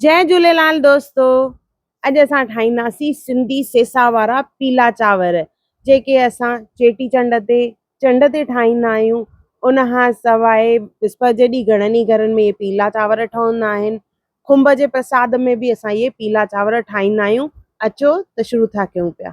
جئي جھوليلال دوستو اڄ اسان ٺاھينداسين سنڌي سيسا وارا پيلا چانور جيڪي اسان چيٽي چنڊ تي چنڊ تي ٺاھيندا آھيون ان کان سواء وسپت جي ڏينھن گھڻن ئي گھرن ۾ اھي پيلا چانور ٺھندا آھن کنڀ جي پرساد ۾ به اسان اھي پيلا چانور ٺاھيندا آھيون اچو ته شروع ٿا ڪيون پيا.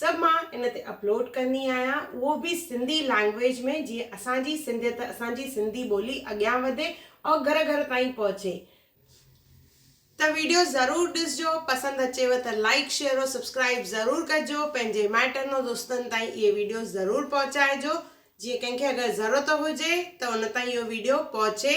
سڀ مان ان تي اپلوڊ ڪندي آهيان اهو به سنڌي لينگويج ۾ جيئن اسان جي سنڌيت اسان جي سنڌي ٻولي اڳيان وڌي اور گهر گهر تائين پهچي ته ويڊيو ضرور ڏسجو پسند اچيو ته لائيڪ شيئر اور سبسڪرائيب ضرور ڪجو پنهنجي مائٽن اور دوستن تائين اهي ويڊيو ضرور پهچائجو جيئن ڪنهن کي اگر ضرورت هجي ته ان تائين اهو ويڊيو پهچي.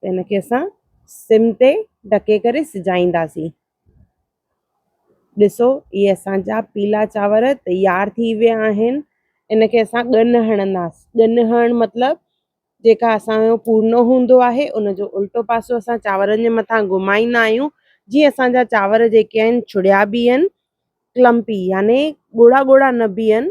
ته ان کي اسان سم تي ڍڪي ڪري سجائينداسين. ڏسو اهي اسان جا پيلا چانور تيار ٿي ويا آهن ان کي اسان ڳن هڻنداس ڳن هڻ مطلب جيڪا اسان جو پورنو هوندو آهي ان جو الٽو پاسو اسان چانورن جي مٿان گهمائيندا آهيون جي اسان جا چانور جيڪي آهن ڇڙيا بيهن ڪلمپي يعني ڳوڙها ڳوڙها نه بيهن